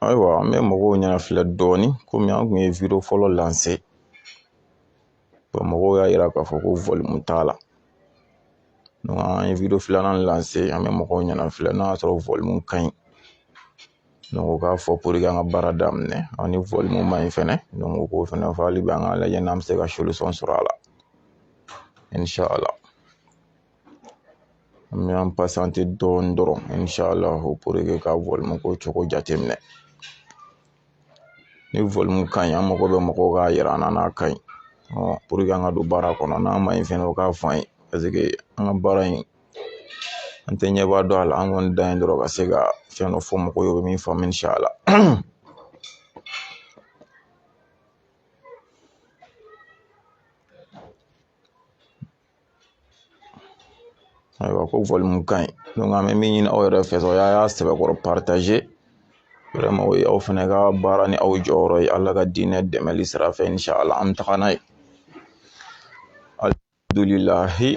ayiwa an bɛ mɔgɔw ɲɛna filɛ dɔɔnin komi an kun ye video fɔlɔ lancer mɔgɔw y'a yira k'a fɔ ko volume t'a la an ye video filanan lancer an bɛ mɔgɔw ɲɛna filɛ n'a y'a sɔrɔ volume ka ɲi donc u k'a fɔ pour que an ka baara daminɛ an ni volume ma ɲi fɛnɛ u k'o fɛnɛ fɔ hali bi an k'a lajɛ n'an bɛ se ka solution sɔrɔ a la An bɛ an patienter dɔɔni dɔrɔn inchallah pour que ka volume ko cogo jateminɛ ni volume ka ɲi an mago bɛ mɔgɔw k'a yira an na n'a ka ɲi pour que an ka don baara kɔnɔ n'a ma ɲi fɛnɛ o k'a fɔ an ye parce que an ka baara in an tɛ ɲɛba dɔn a la an kɔni dan ye dɔrɔn ka se ka fɛn dɔ fɔ mɔgɔw ye u bɛ min faamu inchallah ayiwa ko volume ka ɲi donc an bɛ min ɲini aw yɛrɛ fɛ sa o y'a sɛbɛkɔrɔ partager vraiment o ye aw fana ka baara ni aw jɔyɔrɔ ye ala ka diinɛ dɛmɛli sira fɛ inchallah an bɛ taga n'a ye alihamdulilayi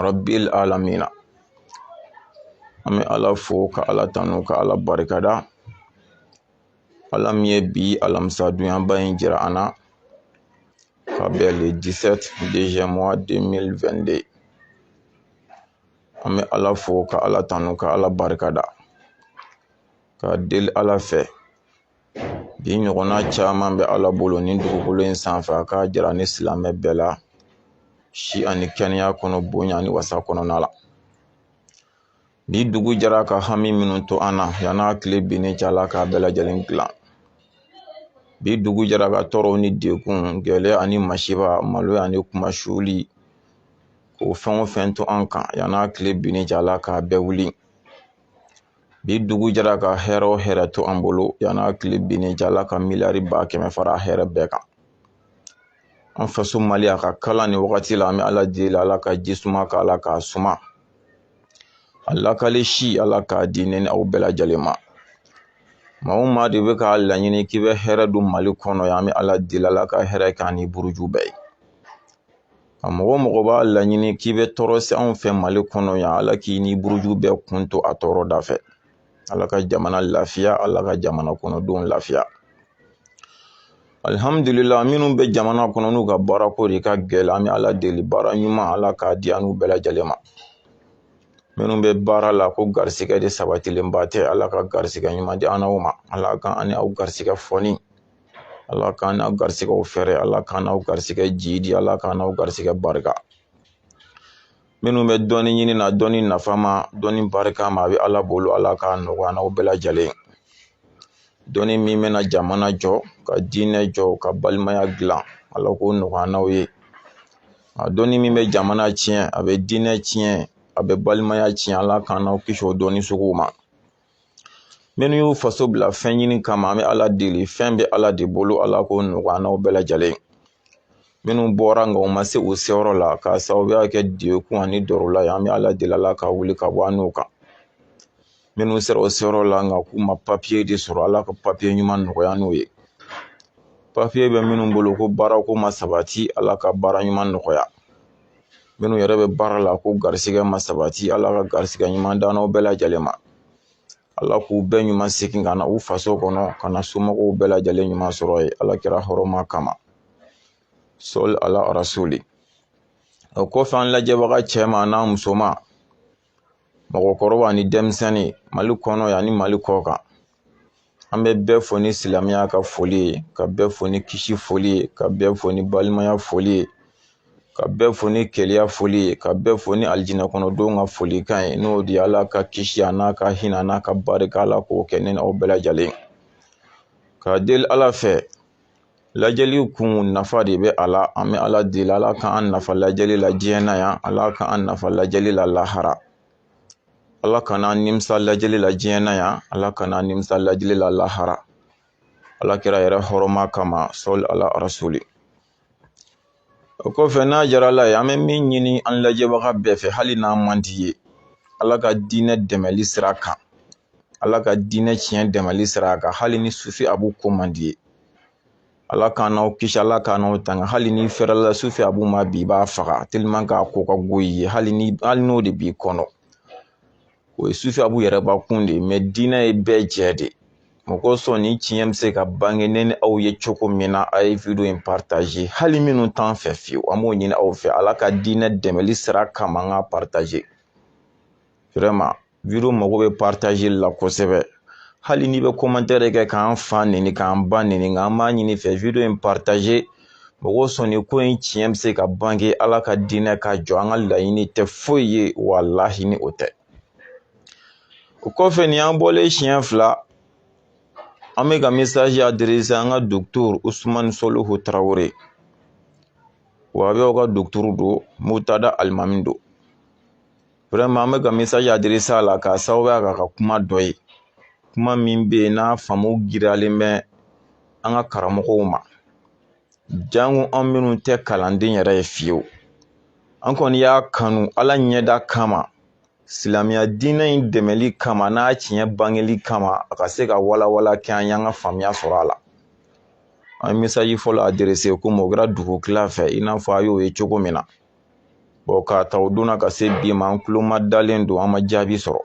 rabil alamina an bɛ ala fo ka ala tanu ka ala barikada ala min ye bi alamisa donyaba in jira an na ka bɛn le 17 deuxième mois 2022 an bɛ ala fo ka ala tanu ka ala barika da ka deli ala fɛ bi ɲɔgɔnna caman bɛ ala bolo ni dugukolo in sanfɛ a k'a jira ni silamɛ bɛɛ la si ani kɛnɛya kɔnɔ bonya ni wasa kɔnɔna la Bi dugu jɛra ka hami minnu to an na yanni a tile binni cɛ ala k'a bɛɛ lajɛlen dilan bi dugu jɛra ka tɔɔrɔw ni degun gɛlɛya ani masiba maloya ani kunmasuli k'o fɛn o fɛn to an kan yanni a tile binni cɛ ala k'a bɛɛ wuli bi dugu jɛra ka hɛrɛ o hɛrɛ to an bolo yanni a tile binni cɛ ala ka miliyari ba kɛmɛ fara hɛrɛ bɛɛ kan an faso mali a ka kalan nin wagati la an bɛ ala deli ala ka ji suma k'a la k'a suma a lakali si ala k'a di ne ni aw bɛɛ lajɛlen ma maa o maa de bɛ k'a laɲini k'i bɛ hɛrɛ don mali kɔnɔ yan an bɛ ala deli ala ka hɛrɛ k'a ni buruju bɛɛ ye a mɔgɔ o mɔgɔ b'a laɲini k'i bɛ tɔɔrɔ se anw fɛ mali kɔnɔ yan ala k'i ni buruju bɛɛ kun to a tɔɔrɔ da fɛ ala ka jamana lafiya ala ka jamana kɔnɔdenw lafiya alihamdulila minnu bɛ jamana kɔnɔ n'u ka baarako de ka gɛlɛn an bɛ ala deli baara ɲuman ala k'a di an n'u bɛɛ lajɛlen ma minnu bɛ baara la ko garisigɛ de sabatilenba tɛ ala ka garisigɛ ɲuman di an n'aw ma ala ka an ni aw garisigɛ foni ala k'an n'aw garisigɛw fɛrɛ ala k'an n'aw garisigɛ jiidi ala k'an n'aw garisigɛ barika minnu bɛ dɔnni ɲini na dɔnni nafama dɔnni barikama a bɛ ala bolo ala k'a nɔgɔya n'aw bɛɛ lajɛlen dɔnni min bɛna jamana jɔ ka diinɛ jɔ ka balimaya dilan ala k'o nɔgɔya n'aw ye a dɔnni min bɛ jamana tiɲɛ a bɛ diinɛ tiɲɛ a bɛ balimaya tiɲɛ ala k'an n'aw kisi o dɔnni suguw ma minnu y'u faso bila fɛn ɲini kama an bɛ ala deli fɛn bɛ ala de bolo ala k'o nɔgɔya n'aw bɛɛ lajɛlen minnu bɔra nka u ma se u seyɔrɔ la k'a sababuya kɛ dɛgun ani dɔrɔla ye an bɛ ala deli ala k'a wuli ka bɔ an n'u kan minnu sera u seyɔrɔ la nka k'u ma papiye de sɔrɔ ala ka papiye ɲuman nɔgɔya n'u ye papiye bɛ minnu bolo ko baarako ma sabati ala ka baara ɲuman nɔgɔya minnu yɛrɛ bɛ baara la ko garisigɛ ma sabati ala ka garisigɛ ɲuman d'an n'aw bɛɛ lajɛlen ma ala k'u bɛɛ ɲuman segin ka na u faso kɔnɔ ka na somɔgɔw bɛɛ lajɛlen ɲuman sɔrɔ yen ala kira hɔrɔma kama sɔli ala rasuli o kɔfɛ an lajɛbaga cɛman n'a musoman mɔgɔkɔrɔba ni denmisɛnnin mali kɔnɔ yan ni mali kɔkan an bɛ bɛɛ fo ni silamɛya ka foli ye ka bɛɛ fo ni kisi foli ye ka bɛɛ fo ni balimaya foli ye ka bɛɛ fo ni kelenya foli ye ka bɛɛ fo ni alijinɛ kɔnɔdenw ka folikan ye n'o de ye ala ka kisi a n'a ka hinɛ n'a ka barika ala k'o kɛ ne n'aw bɛɛ lajɛlen ka deli ala fɛ lajɛli kun nafa de bɛ a la an bɛ ala deli ala k'an nafa lajɛli la diɲɛ na yan ala k'an nafa lajɛli la lahara ala kan'an nimisa lajɛli la diɲɛ na yan ala kan'an nimisa lajɛli la lahara ala kira yɛrɛ hɔrɔma kama sɔli ala rasuli o kɔfɛ n'a jara ala ye an bɛ min ɲini an lajɛbaga bɛɛ fɛ hali n'an man d'i ye ala ka diinɛ dɛmɛli sira kan ala ka diinɛ tiɲɛ dɛmɛli sira kan hali ni sufi abu ko man d'i ye ala k'an n'aw kisi ala k'an n'aw tanga hali n'i fɛrɛla sufi abu ma bi i b'a faga tellement k'a ko ka go i ye hali ni hali n'o de b'i kɔnɔ o ye sufi abu yɛrɛbakun de ye mais diinɛ ye bɛɛ jɛ de ye mɔgɔ sɔn ni tiɲɛ bɛ se ka bange ne ni aw ye cogo min na a ye video in partager hali minnu t'an fɛ fiyewu an b'o ɲini aw fɛ ala ka diinɛ dɛmɛli sira kama an k'a partager vraiment video mago bɛ partager la kosɛbɛ hali n'i bɛ commentaire kɛ k'an fa neni k'an ba neni nka an b'a ɲin'i fɛ video in partager mɔgɔ sɔnni ko in tiɲɛ bɛ se ka bange ala ka diinɛ ka jɔ an ka laɲini tɛ foyi ye walahi ni o tɛ o kɔfɛ nin an bɔlen siɲɛ fila an bɛ ka message adresser an ka docteur usumani sɔlihu tarawele wahabiw ka docteur don mutada alimami don an bɛ ka mesaji aderese a la k'a sababuya k'a ka kuma dɔ ye kuma min bɛ yen n'a faamu giriyalen bɛ an ka karamɔgɔw ma janko an minnu tɛ kalanden yɛrɛ ye fiyewu an kɔni y'a kanu ala ɲɛda kama silamɛya diinɛ in dɛmɛli kama n'a tiɲɛ bangeli kama a ka se ka walawala kɛ an y'an ka faamuya sɔrɔ a la an ye mesaji fɔlɔ aderese komi o kɛra dugu kila fɛ i n'a fɔ a y'o ye cogo min na k'a ta o don na ka se bi ma an tulo ma dalen don an ma jaabi sɔrɔ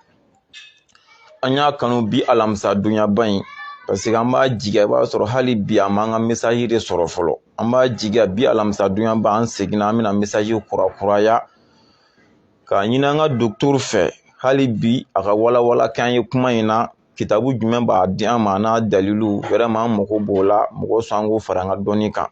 an y'a kanu bi alamisa donyaba in paseke an b'a jigiya i b'a sɔrɔ hali bi a m'an ka mesaji de sɔrɔ fɔlɔ an b'a jigiya bi alamisa donyaba an seginna an bɛna mesaji kurakuraya k'a ɲini an ka dɔgɔtɔrɔ fɛ hali bi a ka walawala k'an ye kuma in na kitabu jumɛn b'a di an ma n'a dalilu wɛrɛma an mago b'o la mɔgɔ sɔn an k'o fara an ka dɔnni kan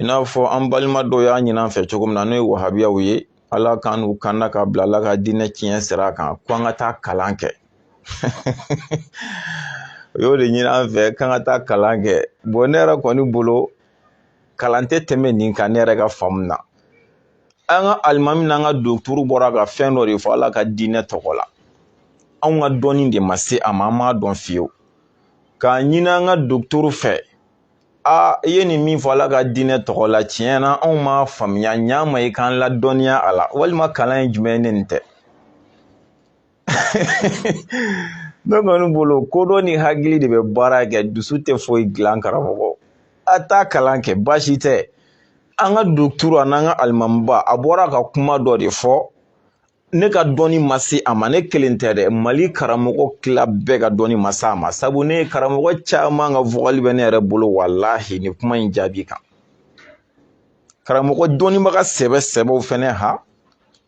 i n'a fɔ an balima dɔw y'a ɲini an fɛ cogo min na n'o ye wahabiyaw ye ala k'an n'u kanda ka bila ala ka diinɛ tiɲɛ sira kan ko an ka taa kalan kɛ u y'o de ɲini an fɛ k'an ka taa kalan kɛ bɔn ne yɛrɛ kɔni bolo kalan tɛ tɛmɛ nin kan ne yɛrɛ ka faamu na an ka alimami n'an ka dɔgɔtɔrɔ bɔra ka fɛn dɔ de fɔ ala ka diinɛ tɔgɔ la anw ka dɔnni de ma se a ma an m'a dɔn fiyewu k'a ɲini an ka dɔgɔtɔrɔ fɛ aa i ye nin min fɔ ala ka diinɛ tɔgɔ la tiɲɛ na anw m'a faamuya ɲa ma i k'an ladɔnniya a la walima kalan ye jumɛn ye ne nin tɛ ne kɔni bolo kodɔn ni hakili de bɛ baara kɛ dusu tɛ foyi dilan karamɔgɔ a taa kalan kɛ baasi tɛ an ka dɔgɔtɔrɔ an'an ka alimamiba a bɔra ka kuma dɔ de fɔ ne ka dɔnni ma se a ma ne kelen tɛ dɛ mali karamɔgɔ tila bɛɛ ka dɔnni ma se a ma sabu ne ye karamɔgɔ caman ka vokali bɛ ne yɛrɛ bolo walahi nin kuma in jaabi kan karamɔgɔ dɔnnibaga sɛbɛ sɛbɛw fɛnɛ ha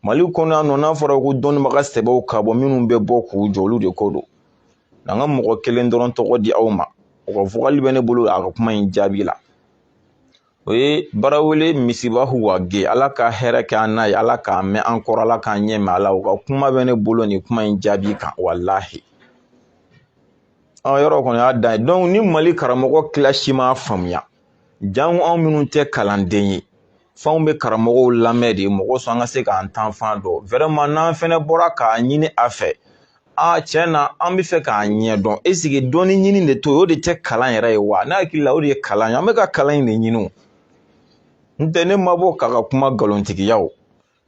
mali kɔnɔ yan nɔ n'a fɔra ko dɔnnibaga sɛbɛw ka bɔ minnu bɛ bɔ k'u jɔ olu de ko don n'an ka mɔgɔ kelen dɔrɔn tɔgɔ di aw ma o ka vokali bɛ ne bolo a ka kuma in jaabi la o ye barawele misibahu wage ala ka hɛrɛ kɛ an n'a ye ala k'a mɛn an kɔrɔ ala k'an ɲɛ mɛn a la u ka kuma bɛ ne bolo nin kuma in jaabi kan walahi an yɔrɔ kɔni y'a dan ye dɔnku ni mali karamɔgɔ kila si m'a faamuya janko anw minnu tɛ kalanden ye f'anw bɛ karamɔgɔw lamɛn de mɔgɔ sɔn an ka se k'an taafan dɔn wɛrɛma n'an fɛnɛ bɔra k'a ɲini a fɛ aa tiɲɛ na an bɛ fɛ k'a ɲɛ dɔn eseke dɔnni ɲini de to o de tɛ kalan yɛrɛ ye wa ne hakili la o de ye kalan ye an bɛ ka kalan in de ɲini o n tɛ ne ma bɔ k'a ka kuma nkalontigiya o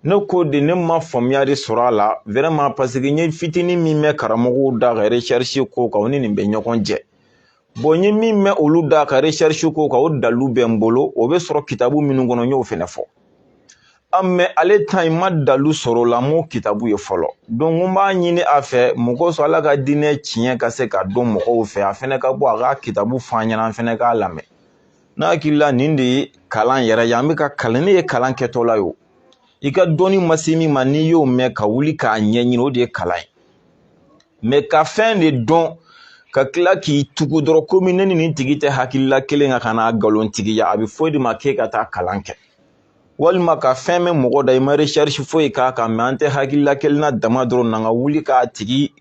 ne ko de ne ma faamuya de sɔrɔ a la wɛrɛma paseke n ye fitinin min mɛn karamɔgɔw da ka resɛrisi ko kan o ni nin bɛ ɲɔgɔn jɛ bɔn n ye min mɛn olu da ka recherche k'o kan o dalilu bɛ n bolo o bɛ sɔrɔ kitabu minnu kɔnɔ n y'o fɛnɛ fɔ a mɛ ale ta in ma dalilu sɔrɔ o la n m'o kitabu ye fɔlɔ donc n b'a ɲini a fɛ mɔgɔ sɔrɔ ala ka diinɛ tiɲɛ ka se ka dɔn mɔgɔw fɛ a fɛnɛ ka bɔ a ka kitabu fɔ an ɲɛna an fɛnɛ k'a lamɛn ne hakili la nin de ye kalan yɛrɛ ye an bɛ ka kalan n'e ye kalan kɛtɔla ye o i ka dɔnni ma se min ma n'i y'o mɛn ka wuli k'a ɲɛɲini o de ye kalan ye mɛ ka fɛn de dɔn ka tila k'i tugu dɔrɔn komi ne ni nin tigi tɛ hakilila kelen kan ka n'a nkalontigiya a bɛ fɔ e de ma k'e ka taa kalan kɛ walima ka fɛn mɛn mɔgɔ da i ma recherche foyi k'a kan mɛ an tɛ hakilila kelen na dama dɔrɔn na ka wuli k'a tigi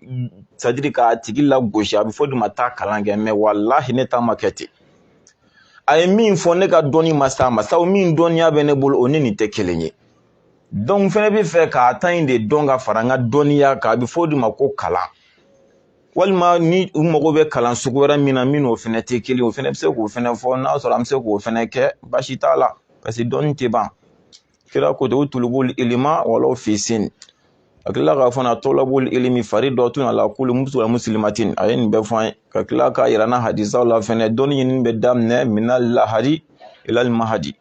sadiri k'a tigi lagosi a bɛ fɔ e de ma taa kalan kɛ mɛ walahi ne ta ma kɛ ten a ye min fɔ ne ka dɔnni ma s'a ma sabu min dɔnniya bɛ ne bolo o ni nin tɛ kelen ye donc n fɛnɛ b'a fɛ k'a ta in de dɔn ka fara n ka dɔnniya kan a bɛ fɔ o de ma ko kalan walima ni u mago bɛ kalan sugu wɛrɛ min na min n'o fɛnɛ tɛ kelen o fɛnɛ bɛ se k'o fɛnɛ fɔ n'a sɔrɔ an bɛ se k'o fɛnɛ kɛ baasi t'a la paseke dɔnni tɛ ban kira ko ten utulubul ilma walaw fi sin a tilala k'a fɔ na tolabul ilmi faridatun ala kulli musilim wa musilimatin a ye nin bɛɛ fɔ an ye ka tila k'a yira an na hadisaw la fɛnɛ dɔnni ɲinini bɛ daminɛ minal lahadi ilal mahadi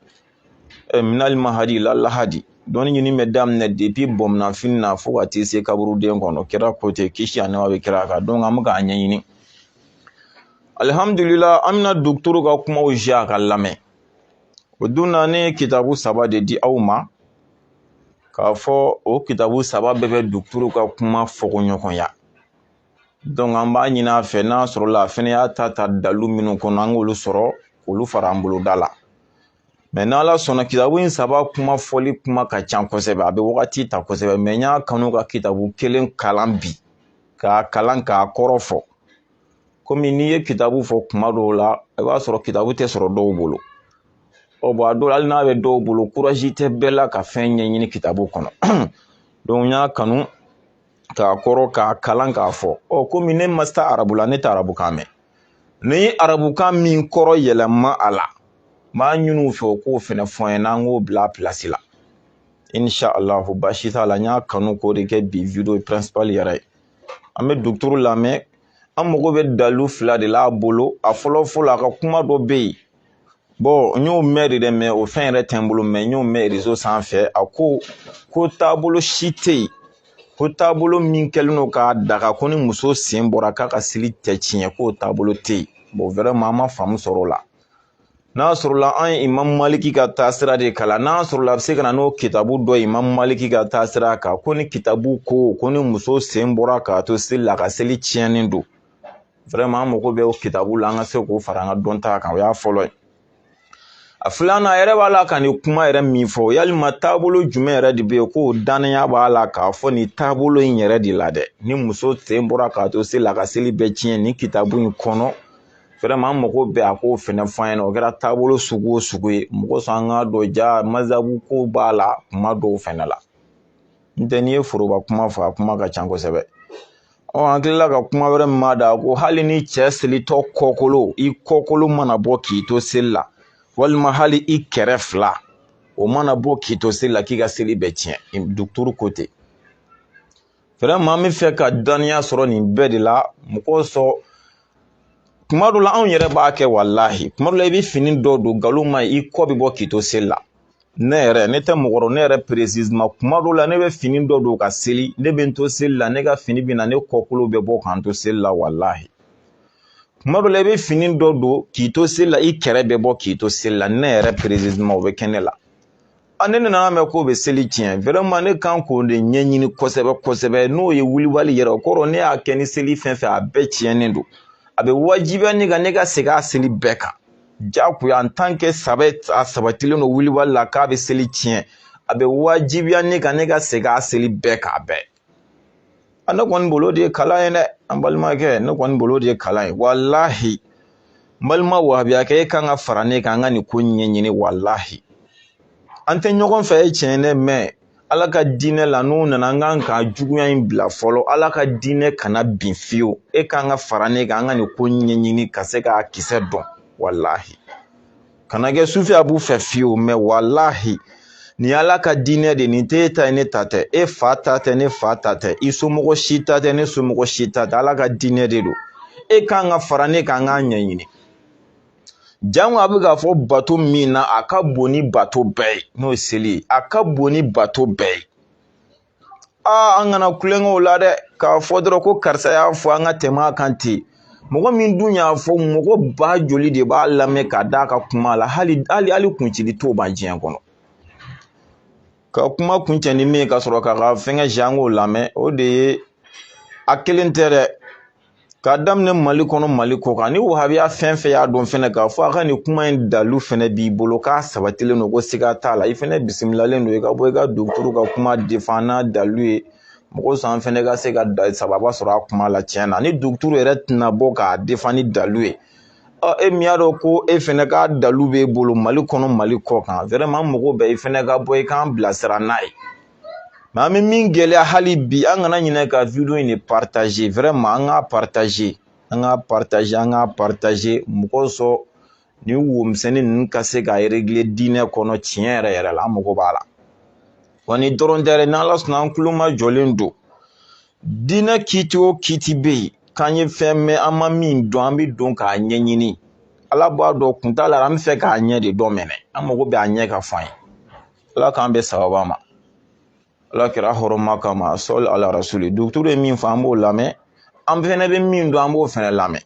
eh, minal mahadi ilal lahadi dɔnni ɲini bɛ daminɛ depi bɔmunanfini na fo ka t'i se kaburuden kɔnɔ kira ko ten kisi ani nɛɛma bɛ kira kan donc an bɛ k'a ɲɛɲini alihamudulila an bɛna dɔgɔtɔrɔ ka kumaw jouer a k'a lamɛn o don na ne ye kitabu saba de di aw ma k'a fɔ o kitabu saba bɛɛ bɛ dɔgɔtɔrɔ ka kuma fɔkoɲɔgɔnya an b'a ɲini a fɛ n'a sɔrɔla a fɛnɛ y'a ta ta dalu minnu kɔnɔ an k'olu sɔrɔ k'olu fara an bolo ta la mɛ n' ala sɔnna kitabu in saba kuma fɔli kuma ka ca kosɛbɛ a bɛ wagati ta kosɛbɛ mɛ n y'a kanu ka kitabu kelen kalan bi k'a kalan k'a kɔrɔ fɔ komi n'i ye kitabu fɔ tuma dɔw la i b'a sɔrɔ kitabu tɛ sɔrɔ dɔw bolo ɔ bɔn a dɔw la hali n'a bɛ dɔw bolo kurazi tɛ bɛɛ la ka fɛn ɲɛɲini kitabu kɔnɔ n y'a kanu k'a kɔrɔ k'a kalan k'a fɔ ɔ komi ne ma se arabu la ne tɛ arabukan mɛn n ye arabukan min kɔrɔ yɛlɛma a la n b'a ɲini u fɛ u k'o fɛnɛ fɔ n ɲɛna an k'o bila a pilasi la inshallah baasi t'a la n y'a kanu k'o de kɛ bi video principal yɛrɛ ye an bɛ dɔgɔtɔrɔ lamɛn an mago bɛ dalu fila de la a bolo a fɔlɔ fɔlɔ a ka kuma dɔ bɛ yen n y'o mɛn de dɛ mɛ o fɛn yɛrɛ tɛ n bolo mɛ n y'o mɛn rezo sanfɛ a ko ko taabolo si tɛ yen ko taabolo min kɛlen don k'a daga ko ni muso sen bɔra k'a ka seli tɛ tiɲɛ k'o taabolo tɛ yen bɔn wɛrɛma an ma faamu sɔrɔ o la n'a sɔrɔla an ye imamu maliki ka taasira de kalan n'a sɔrɔla a bɛ se ka na n'o kitabu dɔ ye imamu maliki ka taasira kan ko nin kitabu ko ko ni muso sen bɔra k'a to seli la a ka seli tiɲɛnen don an mago bɛ o kitabu la an ka se k'o fara an ka dɔnta kan o y'a fɔlɔ ye a filanan a yɛrɛ b'a la ka nin kuma yɛrɛ min fɔ yalima taabolo jumɛn yɛrɛ de bɛ yen ko dannaya b'a la k'a fɔ nin taabolo in yɛrɛ de la dɛ ni muso sen bɔra k'a to seli la a ka seli bɛ tiɲɛ nin kitabu in kɔnɔ an mago bɛ a k'o fɛnɛ fɔ an ɲɛna o kɛra taabolo sugu o sugu ye mun kosɔn an k'a dɔn ja masabu ko b'a la kuma dɔw fɛnɛ la n tɛ n'i ye foroba kuma fɔ a kuma ka ca kosɛbɛ ɔ an kilala ka kuma wɛrɛ mɛn a da ko hali ni cɛ selitɔ kɔkolo i kɔkolo mana bɔ k'i to seli la walima hali i kɛrɛ fila o mana bɔ k'i to seli la k'i ka seli bɛ tiɲɛ duguturu ko ten vraiment an b'a fɛ ka dɔnniya sɔrɔ nin bɛɛ de la mun kosɔn kuma dɔ la anw yɛrɛ b'a kɛ walahi kuma dɔ la i bɛ fini dɔ don nkalon ma i kɔ bɛ bɔ k'i to seli la ne yɛrɛ ne tɛ mɔgɔ dɔn ne yɛrɛ précisément kuma dɔw la ne bɛ fini dɔ don ka seli ne bɛ n to seli la ne ka fini bɛ na ne kɔkolo bɛ bɔ ka n to seli la walahi kuma dɔw la i bɛ fini dɔ don k'i to seli la i kɛrɛ bɛ bɔ k'i to seli la ne yɛrɛ précisément o bɛ kɛ ne la a ne nana mɛn k'o bɛ seli tiɲɛ vraiment ne kan k'o de ɲɛɲini kosɛbɛ kosɛbɛ n'o ye wulibali yɛrɛ o kɔrɔ ne y'a kɛ ni seli fɛn fɛn a bɛɛ tiɲɛnen don a bɛ wajibiya ne kan ne ka segin a seli bɛɛ kan jagoya en tant que saba a sabatilen don wulibali la k'a bɛ seli tiɲɛ a bɛ wajibiya ne kan ne ka segin a seli bɛɛ kan a bɛɛ a ne kɔni bolo de ye kalan ye dɛ an balimakɛ ne kɔni bolo de ye kalan ye walahi n balima wahabiyakɛ e kan ka fara ne kan an ka nin ko ɲɛɲini walahi an tɛ ɲɔgɔn fɛ o ye tiɲɛ ye dɛ mais ala ka diinɛ la n'u nana an kan ka juguya in bila fɔlɔ ala ka diinɛ kana bin fiyewu e kan ka fara ne kan an ka nin ko ɲɛɲini ka se k'a kisɛ dɔn walahi kana kɛ sufi a b'u fɛ fiyewu mais walahi nin ala ka diinɛ de nin t'e ta ye ne ta tɛ e fa ta tɛ ne fa ta tɛ i somɔgɔ si ta tɛ ne somɔgɔ si ta tɛ ala ka diinɛ de don e kan ka fara ne kan an k'a ɲɛɲini jango a bɛ k'a fɔ bato min na a ka bon ni bato bɛɛ ye n'o ye seli ye a ka bon ni bato bɛɛ ye aa an kana kulon kɛ o la dɛ k'a fɔ dɔrɔn ko karisa y'a fɔ an ka tɛmɛ a kan ten mɔgɔ min dun y'a fɔ mɔgɔ ba joli de b'a lamɛn ka d'a ka kuma la hali hali hali kuncili t'o ban diɲɛ kɔnɔ ka kuma kuncɛ ni min ye ka sɔrɔ k'a ka fɛnkɛ jango lamɛn o de ye a kelen tɛ dɛ k'a daminɛ mali kɔnɔ mali kɔ kan ni wahabiya fɛn fɛn y'a dɔn fɛnɛ k'a fɔ a ka nin kuma in dalu fɛnɛ b'i bolo k'a sabatilen don ko siga t'a la i fɛnɛ bisimilalen don i ka bɔ i ka duguturu ka kuma défend n'a dalu ye mun kosɔn an fɛnɛ ka se ka sababa sɔrɔ a kuma la tiɲɛ na ni duguturu yɛrɛ tɛna bɔ k'a défend ni dalu ye ɔ e min y'a dɔn ko e fɛnɛ ka dalu b'e bolo mali kɔnɔ mali kɔ kan vraiment mago bɛ i fɛnɛ ka bɔ i k'an bilasira n'a ye mais an bɛ min gɛlɛya hali bi an kana ɲinɛ ka video in de partager vraiment an k'a partager an k'a partager an k'a partager mɔgɔ sɔrɔ nin wo misɛnnin ninnu ka se ka régler diinɛ kɔnɔ tiɲɛ yɛrɛ yɛrɛ la an mago b'a la wa nin dɔrɔn tɛ dɛ n'ala sɔnna an tulomajɔlen don diinɛ kiti o kiti bɛ yen k'an ye fɛn mɛn an ma min dɔn an bɛ don k'a ɲɛɲini ala b'a dɔn kun t'a la an b'a fɛ k'a ɲɛ de dɔn mɛnɛ an mago bɛ a ɲɛ ka fɔ an ye ala k'an bɛɛ sababa ma alakira hɔrɔma kama sɔli ala rasuli docteur ye min fɔ an b'o lamɛn an fɛnɛ bɛ min dɔn an b'o fɛnɛ lamɛn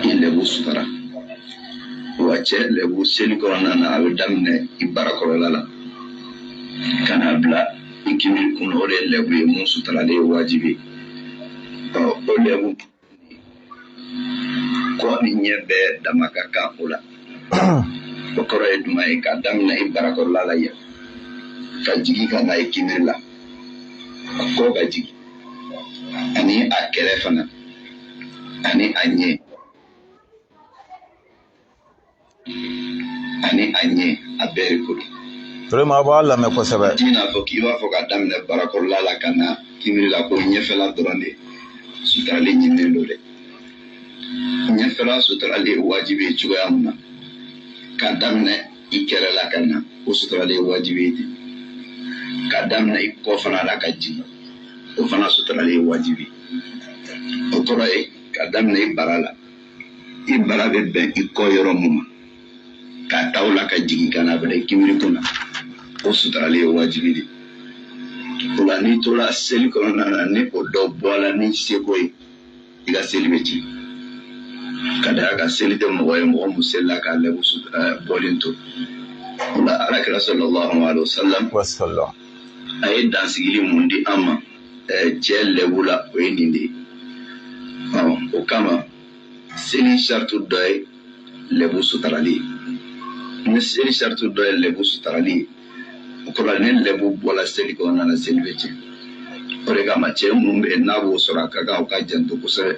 i lɛbu sutara wa cɛ lɛbu seli kɔnɔna na a bɛ daminɛ i barakɔrɔla la ka na bila i kimi kun o de ye lɛbu ye mun sutarali ye wajibi ɔ o lɛbu kɔ ni ɲɛ bɛɛ dama ka kan o la o kɔrɔ ye jumɛn ye k'a daminɛ i barakɔrɔla la yan ka jigin ka na i kimiri la a kɔ ka jigin ani a kɛrɛ fana ani a ɲɛ ani a ɲɛ a bɛɛ de ko don vraiment a b'a lamɛn kosɛbɛ i n'a fɔ k'i b'a fɔ ka daminɛ barakɔrɔla la ka na kimiri la ko ɲɛfɛla dɔrɔn de sutarali ɲininen don dɛ ɲɛfɛla sutarali ye wajibi ye cogoya min na ka daminɛ i kɛrɛ la ka na o sutarali ye wajibi ye ten ka daminɛ i kɔ fana la ka jigin o fana sutarali ye wajibi o kɔrɔ ye ka daminɛ i bara la i bara bɛ bɛn i kɔ yɔrɔ min ma k'a ta o la ka jigin ka na bila i kimiri kun na o sutarali ye wajibi de o la n'i tora seli kɔnɔna na ni o dɔ bɔla ni seko ye i ka seli bɛ tiɲɛ ka d'a kan seli tɛ mɔgɔ ye mɔgɔ min selila k'a lɛbu bɔlen to o la alakira sallallahu alaihi wasallam a ye dansigili mun di an ma cɛ lɛbu la o ye nin de ye o kama seli sarati dɔ ye lɛbu sutarali ye ni seli sarati dɔ ye lɛbu sutarali ye o kɔrɔ ni lɛbu bɔla seli kɔnɔna na seli bɛ tiɲɛ o de kama cɛ minnu bɛ yen n'a b'o sɔrɔ a ka kan u ka janto kosɛbɛ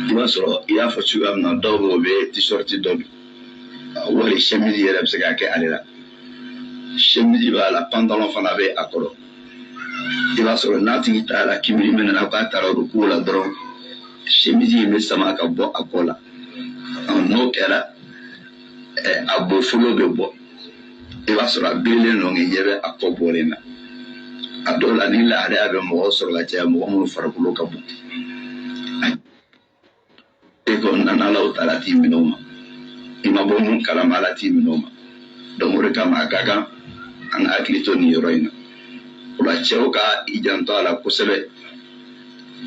i b'a sɔrɔ i y'a fɔ cogoya min na dɔw bɛ yen u bɛ t-shirt dɔ don wali chemise yɛrɛ bɛ se ka kɛ ale la chemise b'a la pantalon fana bɛ a kɔrɔ i b'a sɔrɔ n'a tigi taara kibiri min na k'a taara ruku la dɔrɔn chemise in bɛ sama ka bɔ a kɔ la n'o kɛra a bofolo bɛ bɔ i b'a sɔrɔ a birilen don k'i ɲɛ bɛ a kɔ bɔlen na a dɔw la nin lahalaya bɛ mɔgɔ sɔrɔ ka caya mɔgɔ minnu farikolo ka bon e ko nana alahu taala t'i minɛ o ma i ma bɔ mun kalama ala t'i minɛ o ma donc o de kama a ka kan an ka hakili to nin yɔrɔ in na o la cɛw ka i janto a la kosɛbɛ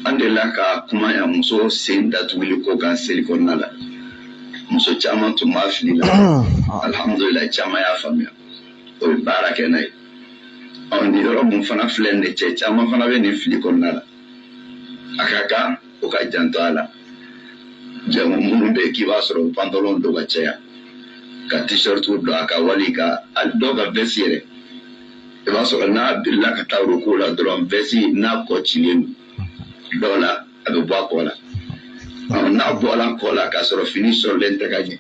an delila ka kuma yan muso sen datuguli ko kan seli kɔnɔna la muso caman tun b'a fili la alhamdulila caman y'a faamuya o ye baara kɛ n'a ye ɔ nin yɔrɔ mun fana filɛ nin ye cɛ caman fana bɛ nin fili kɔnɔna la a ka kan o ka janto a la jamu minnu bɛ k'i b'a sɔrɔ pantalon don ka caya ka t-shirt don a kan wali ka dɔw ka veste yɛrɛ i b'a sɔrɔ n'a birila ka taa ruku la dɔrɔn veste n'a kɔ cilen don dɔw la a bɛ bɔ a kɔ la n'a bɔla a kɔ la k'a sɔrɔ fini sɔrɔlen tɛ ka ɲɛ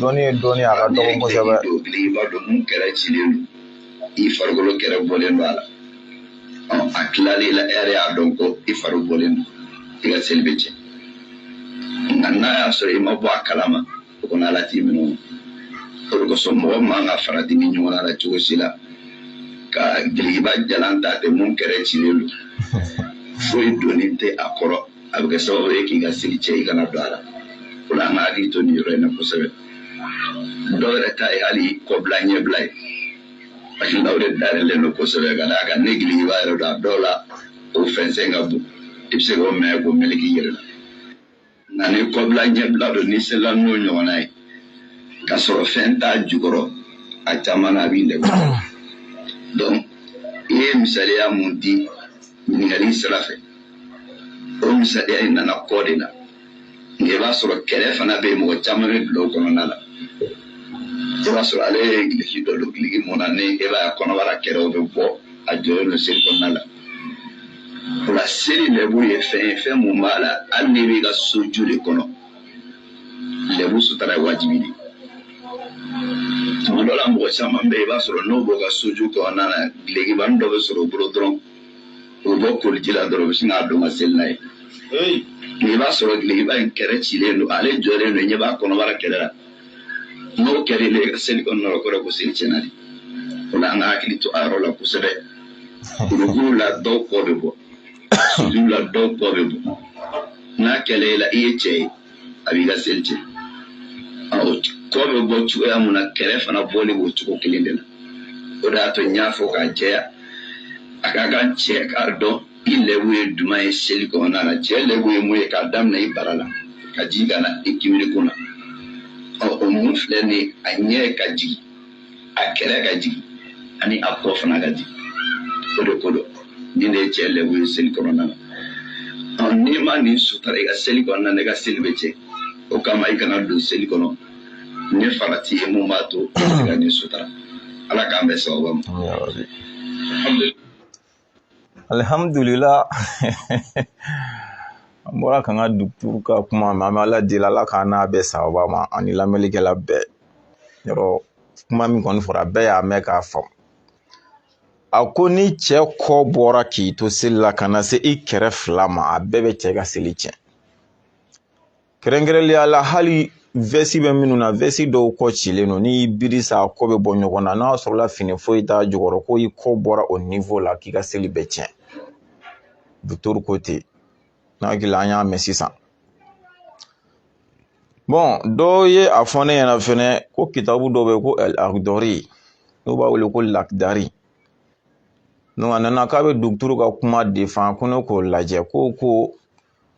dɔnni ye dɔnni a ka dɔgɔ kosɛbɛ i b'a dɔn mun kɛrɛ cilen don i farikolo kɛrɛ bɔlen don a la a tilalen la e yɛrɛ y'a dɔn ko i fari bɔlen don i ka seli bɛ tiɲɛ nka n'a y'a sɔrɔ i ma bɔ a kalama o kɔni ala t'i minɛ o de kosɔn mɔgɔ man ka farati nin ɲɔgɔn la cogo si la ka gilikiba jalan ta ten mun kɛrɛ cilen don foyi donni tɛ a kɔrɔ a bɛ kɛ sababu ye k'i ka seli tiɲɛ i kana dɔn a la o la an ka hakili to nin yɔrɔ in na kosɛbɛ dɔw yɛrɛ ta ye hali kɔbila ɲɛbila ye parce que o de dayɛlɛlen don kosɛbɛ ka d'a kan ni gilikiba yɛrɛ don a dɔw la o fɛnsɛn ka bon i bɛ se k'o minɛ k'o meleke i yɛrɛ la nka ni kɔbila ɲɛbila don n'i selila n'o ɲɔgɔnna ye ka sɔrɔ fɛn t'a jukɔrɔ a caman na a b'i lɛbu donc i ye misaliya mun di ɲininkali sira fɛ o misaliya in nana kɔ de la nka i b'a sɔrɔ kɛrɛ fana bɛ yen mɔgɔ caman bɛ bila o kɔnɔna la i b'a sɔrɔ ale ye giliki dɔ don giliki mun na ni e b'a ye kɔnɔbara kɛrɛw bɛ bɔ a jɔlen don seli kɔnɔna la o la seli lɛbu ye fɛn ye fɛn mun b'a la hali n'i b'i ka soju de kɔnɔ lɛbu sutura ye wajibi de ye tuma dɔ la mɔgɔ caman bɛ yen i b'a sɔrɔ n'o b'o ka soju kɔnɔna na gilikibani dɔ bɛ sɔrɔ o bolo dɔrɔn o bɔ koliji la dɔrɔn u bɛ sin k'a don ka seli n'a ye i b'a sɔrɔ gilikiba in kɛrɛ cilen don ale jɔlen don ɲɛ b'a kɔnɔbara kɛrɛ la n'o kɛra ile ka seli kɔnɔna la o kɔrɔ ko seli tiɲɛna de o la an ka hakili to a yɔrɔ la kosɛbɛ ruku la dɔw kɔ bɛ bɔ sujudu la dɔw kɔ bɛ bɔ n'a kɛra i la i ye cɛ ye a b'i ka seli tiɲɛ kɔ bɛ bɔ cogoya mun na kɛrɛ fana bɔli b'o cogo kelen de la o de y'a to n y'a fɔ k'a jɛya a ka kan cɛ k'a dɔn i lɛbu ye jumɛn ye seli kɔnɔna na cɛ lɛbu ye mun ye k'a daminɛ i bara la ka jigin ka na i kimiri kun na ɔ o mun filɛ nin a ɲɛ ka jigin a kɛrɛ ka jigin ani a kɔ fana ka jigin o de ko dɔ ni ne ye cɛ lɛbu ye seli kɔnɔna na n'i ma nin sutara i ka seli kɔnɔna na i ka seli bɛ tiɲɛ o kama i kana don seli kɔnɔ ni farati ye mun b'a to i ka nin sutara ala k'an bɛn sababu ma alihamudulila an bɔra k'an ka duguturu ka kuma mɛn an bɛ ala deli ala k'an n'a bɛn sababa ma ani lamɛnlikɛla bɛɛ yɔrɔ kuma min kɔni fɔra bɛɛ y'a mɛn k'a faamu a ko ni cɛ kɔ bɔra k'i to seli la ka na se i kɛrɛ fila ma a bɛɛ bɛ cɛ ka seli tiɲɛ kɛrɛnkɛrɛnlenya la hali vɛsi bɛ minnu na vɛsi dɔw kɔ cilen don n'i biri sa a kɔ bɛ bɔ ɲɔgɔn na n'a sɔrɔla fini foyi t'a jukɔrɔ ko i kɔ bɔra o niwo la k'i ka seli bɛ tiɲɛ dɔkitɔri ko ten n hakili an y'a mɛn sisan bɔn dɔw ye a fɔ ne ɲɛna fɛnɛ ko kitabu dɔ bɛ ko akidari n'u b'a wele ko lakidari a nana k'a bɛ duguturu ka kuma defan ko ne k'o lajɛ ko ko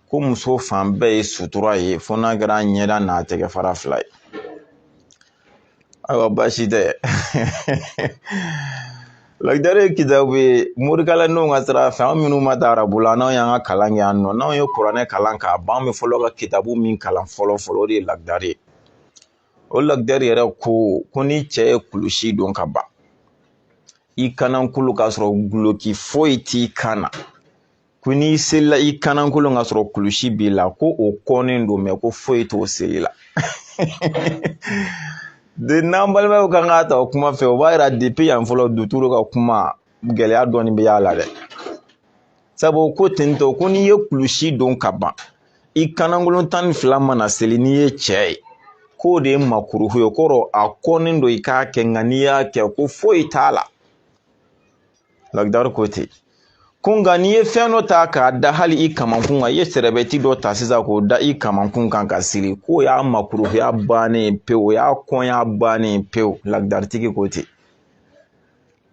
ko muso fan bɛɛ ye sutura ye fo n'a kɛra ɲɛda n'a tɛgɛ fara fila ye ayiwa baasi tɛ lakidari ye kitabu ye morikalandenw ka sira fɛ an minnu ma taa arabu la n'anw y'an ka kalan kɛ yan nɔ n'anw ye kuranɛ kalan k'a ban an bɛ fɔlɔ ka kitabu min kalan fɔlɔ fɔlɔ o de ye lakidari ye o lakidari yɛrɛ ko ko ni cɛ ye kulusi don ka ban i kanankolon k'a sɔrɔ duloki foyi t'i kan na ko n'i selila i kanankolon k'a sɔrɔ kulusi b'i la ko o kɔnnen don mɛ ko foyi t'o seli la dɛ n'an balimaw kan k'a ta o kuma fɛ o b'a yira depi yan fɔlɔ duturu ka kuma gɛlɛya dɔɔnin bɛ y'a la dɛ sabu ko tentɔ ko n'i ye kulusi don ka ban i kanankolon tan ni fila mana seli n'i ye cɛ ye k'o de ye makuruhu ye kɔrɔ a kɔnnen don i k'a kɛ nka n'i y'a kɛ ko foyi t'a la lakidari ko ten ko nka n'i ye fɛn dɔ ta k'a da hali i kamankun kan i ye sɛrɛbɛti dɔ ta sisan k'o da i kamankun kan k'a siri k'o y'a makuruhuya bannen pewu o y'a kɔnya bannen pewu lakidaritigi ko ten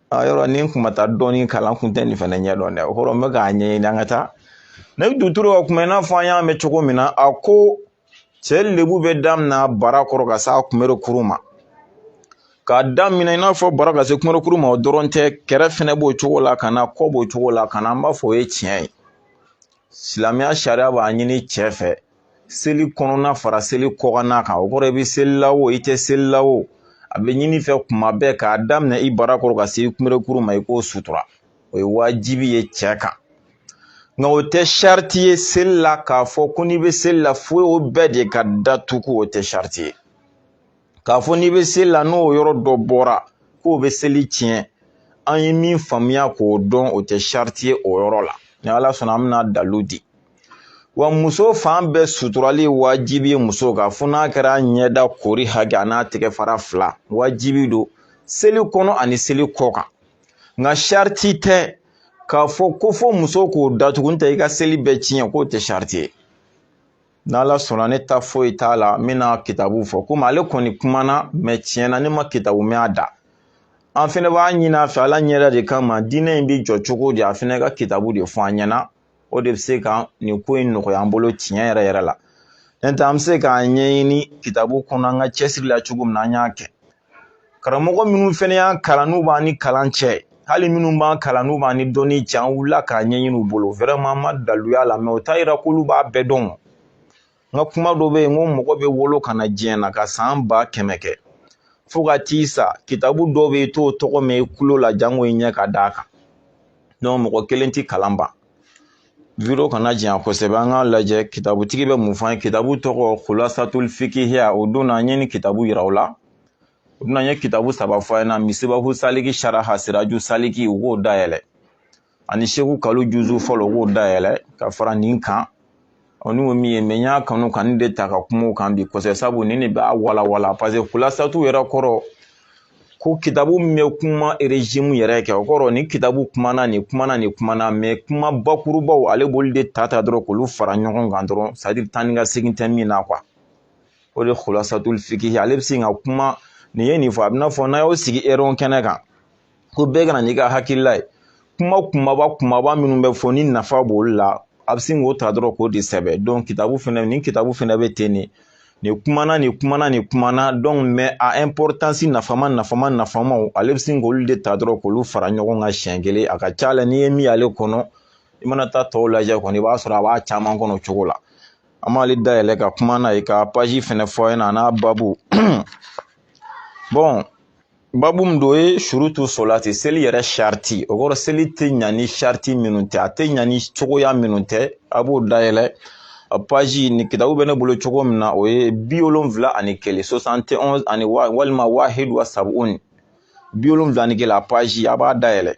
a yɔrɔ ni n kun ma taa dɔɔnin kalan n kun tɛ nin fana ɲɛdɔn dɛ o kɔrɔ n bɛ k'a ɲɛɲini an ka taa ne bɛ duturu ka kuma i n'a fɔ an y'a mɛn cogo min na a ko cɛ lɛbu bɛ daminɛ bara kɔrɔ ka se a kunberekuru ma k'a daminɛ i n'a fɔ bara ka se kunberekuru ma o dɔrɔn tɛ kɛrɛ fɛnɛ b'o cogo la ka na kɔ b'o cogo la ka na an b'a fɔ o ye tiɲɛ ye silamɛya sariya b'a ɲini cɛ fɛ seli kɔnɔna fara seli kɔkanna kan o kɔrɔ i bɛ seli la o i tɛ seli la o a bɛ ɲini i fɛ kuma bɛɛ k'a daminɛ i bara kɔrɔ ka se i kunberekuru ma i k'o sutura o ye wajibi ye cɛ kan nka o tɛ sariti ye seli la k'a fɔ ko n'i bɛ seli la fo o bɛɛ de ka datugu o tɛ sariti ye k'a fɔ n'i bɛ seli la n'o yɔrɔ dɔ bɔra k'o bɛ seli tiɲɛ an ye min faamuya k'o dɔn o tɛ sariti ye o yɔrɔ la ni ala sɔnna an bɛna dalu di wa muso fan bɛɛ suturali wajibi ye muso kan fo n'a kɛra ɲɛda kori hakɛ a n'a tɛgɛ fara fila wajibi don seli kɔnɔ ani seli kɔ kan nka sariti tɛ k'a fɔ ko fo muso k'o datugu n'o tɛ i ka seli bɛ tiɲɛ k'o tɛ sariti ye n'ala sɔnna ne ta foyi t'a la n bɛna kitabu fɔ komi ale kɔni kumana mɛ tiɲɛ na ne ma kitabu mɛn a da an fɛnɛ b'a ɲini a fɛ ala ɲɛda de kama diinɛ in bɛ jɔ cogo di a fɛnɛ ka kitabu de fɔ an ɲɛna o de bɛ se ka nin ko in nɔgɔya an bolo tiɲɛ yɛrɛ yɛrɛ la n'o tɛ an bɛ se k'a ɲɛɲini kitabu kɔnɔ an ka cɛsiri la cogo min na an y'a kɛ karamɔgɔ minnu fɛnɛ y'an kalan n'u b'an ni kalan cɛ hali minnu b'an kalan n'u b'an ni dɔnni cɛ an wulila k'a ɲɛɲini u bolo vraiment an ma dalu y'a la mɛ o t'a yira k'olu b'a bɛɛ dɔn n ka kuma dɔ bɛ yen n ko mɔgɔ bɛ wolo ka na diɲɛ na ka san ba kɛmɛ kɛ fo ka t'i sa kitabu dɔw bɛ yen i t'o tɔgɔ mɛn i kulo la janko i ɲɛ ka d'a kan mɔgɔ kelen tɛ kalan ban video kana janya kosɛbɛ an k'a lajɛ kitabutigi bɛ mun fɔ an ye kitabu tɔgɔ kulasatul fikihiya o don na an ye nin kitabu yira u la u bɛna n ye kitabu saba fɔ a ɲɛna misibahu saliki saraha siraju saliki u k'o dayɛlɛ ani seku kalu juzu fɔlɔ k'o dayɛlɛ ka fara nin kan ɔ ni ko min ye mɛ n y'a kanu ka nin de ta ka kuma o kan bi kosɛbɛ sabu nin de b'a walawala paseke kulasatu yɛrɛ kɔrɔ ko kitabu min bɛ kuma erezime yɛrɛ kɛ o kɔrɔ nin kitabu kumana nin kumana nin kumana mɛ kuma bakurubaw ale b'olu de ta ta dɔrɔn k'olu fara ɲɔgɔn kan dɔrɔn sadiri taa ni ka segin tɛ min na kuwa o de kulasatul fikihi ale bɛ se ka kuma nin ye nin fɔ a bɛ n'a fɔ n'a y'o sigi erɔn kɛnɛ kan ko bɛɛ kana n'i ka hakilila ye kuma kumaba kumaba minnu bɛ fɔ ni nafa b'olu la a bɛ sin k'o ta dɔrɔn k'o de sɛbɛn kitabu fɛnɛ nin kitabu fɛnɛ bɛ ten de nin kumana nin kumana nin kumana mɛ a ɛnpɔritansi nafama nafama nafamaw ale bɛ sin k'olu de ta dɔrɔn k'olu fara ɲɔgɔn kan siɲɛ kelen a ka ca la n'i ye min y'ale kɔnɔ i mana taa tɔw lajɛ kɔni i b'a sɔrɔ a b'a caman kɔnɔ o cogo la an b'ale dayɛlɛ ka kuma n'a ye ka paji fɛnɛ fɔ a ɲɛna a n'a babu babu min don o ye surutu solati seli yɛrɛ sariti o kɔrɔ seli tɛ ɲa ni sariti minnu tɛ a tɛ ɲa ni cogoya minnu tɛ a b'o dayɛlɛ a paji nin kitabu bɛ ne bolo cogo min na o ye bi wolonfila ani kelen sosante onzi walima wahidu wa sabuni bi wolonfila ni kelen a paji a b'a dayɛlɛ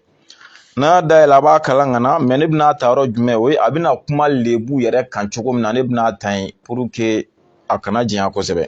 n'a y'a dayɛlɛ a b'a kalan ka na mɛ ne bɛna ta yɔrɔ jumɛn o ye a bɛna kuma lebu yɛrɛ kan cogo min na ne bɛna ta yen puruke a kana janya kosɛbɛ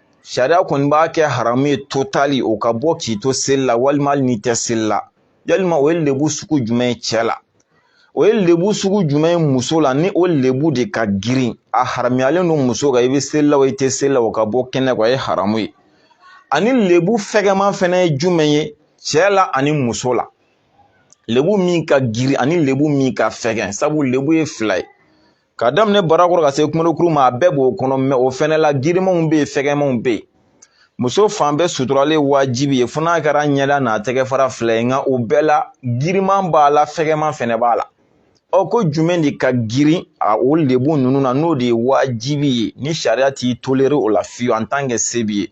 sariya kɔni b'a kɛ haramu ye totali o ka bɔ k'i to seli la walima hali n'i tɛ seli la walima o ye lebu sugu jumɛn ye cɛ la o ye lebu sugu jumɛn ye muso la ni o lebu de ka girin a haramuyalen don muso kan i bɛ seli la o i tɛ seli la o ka bɔ kɛnɛ kan o ye haramu ye ani lebu fɛgɛman fɛnɛ ye jumɛn ye cɛ la ani muso la lebu min ka girin ani lebu min ka fɛgɛn sabu lebu ye fila ye ka daminɛ barakɔrɔ ka se kunberekuru ma a bɛɛ b'o kɔnɔ mɛ o fɛnɛ la girimanw bɛ yen fɛgɛmanw bɛ yen muso fan bɛɛ suturalen wajibi ye fo n'a kɛra ɲɛda n'a tɛgɛ fara fila ye nka o bɛɛ la giriman b'a la fɛgɛman fɛnɛ b'a la ɔ ko jumɛn de ka girin a o lebu ninnu na n'o de ye wajibi ye ni sariya t'i tolere o la fiyewu en tant que se b'i ye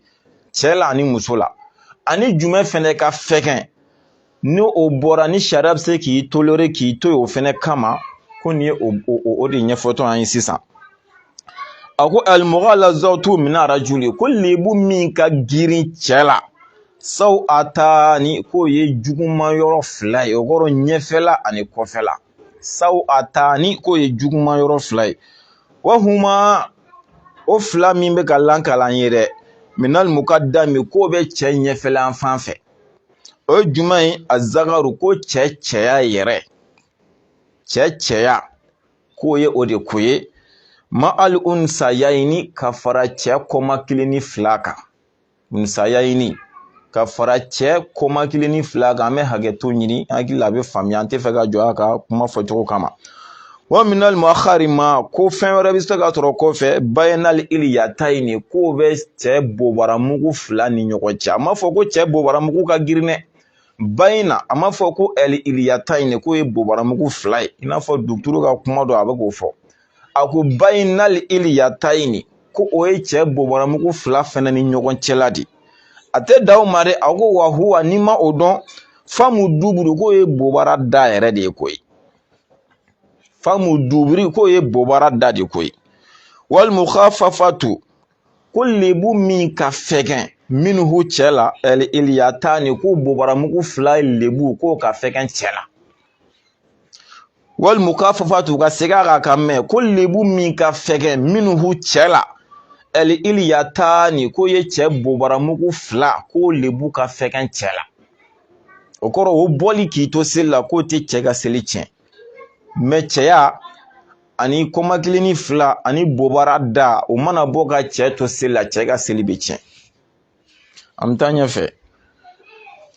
cɛ la ani muso la ani jumɛn fɛnɛ ka fɛgɛn ni o bɔra ni sariya bɛ se k'i tolere k'i to yen o fɛnɛ kama ko nin ye o de ɲɛfɔtɔ an ye sisan a ko alimugalazatu min arajuli ko lebu min ka girin cɛ la sawatani k'o ye juguman yɔrɔ fila ye o kɔrɔ ɲɛfɛla ani kɔfɛla sawatani k'o ye juguman yɔrɔ fila ye wahuma o fila min bɛ ka lakali an ye dɛ minali mukadami k'o bɛ cɛ ɲɛfɛla fan fɛ o ye jumɛn ye azakaru ko cɛ cɛya yɛrɛ cɛ cɛya k'o ye o de koyi ma ali unsayayini ka fara cɛ kɔmakilinin fila kan unsayayini ka fara cɛ kɔmakilinin fila kan an bɛ hakɛto ɲini hakili la a bɛ faamuya an tɛ fɛ ka jɔ a ka kuma fɔcogo kama wa minali muakhari ma ko fɛn wɛrɛ bɛ se ka sɔrɔ kɔfɛ bayinali iliyatayini k'o bɛ cɛ bobaramugu fila ni ɲɔgɔn cɛ a ma fɔ ko cɛ bobaramugu ka girin dɛ bayina a ma fɔ ko ɛli iliyatayini k'o ye bobaramugu fila ye i n'a fɔ duturu ka kuma dɔ a bɛ k'o fɔ a ko bayinali iliyatayini ko o ye cɛ bobaramugu fila fɛnɛ ni ɲɔgɔn cɛla de a tɛ dan o ma dɛ a ko wa huwa n'i ma o dɔn famu duburu k'o ye bobara da yɛrɛ de ye koyi famu duburi k'o ye bobara da de koyi wali mukafafatu ko lebu min ka fɛgɛn minhu cɛ la ɛli iliyatani ko bobaramugu fila lebu k'o ka fɛgɛn cɛ la wali mukafafatu ka segin a kan k'a mɛn ko lebu min ka fɛgɛn minhu cɛ la ɛli iliyatani k'o ye cɛ bobaramugu fila k'o lebu ka fɛgɛn cɛ la o kɔrɔ o bɔli k'i to seli la k'o tɛ cɛ ka seli tiɲɛ mɛ cɛya ani kɔmakilinin fila ani bobara da o mana bɔ ka cɛ to seli la cɛ ka seli bɛ tiɲɛ an bɛ taa ɲɛfɛ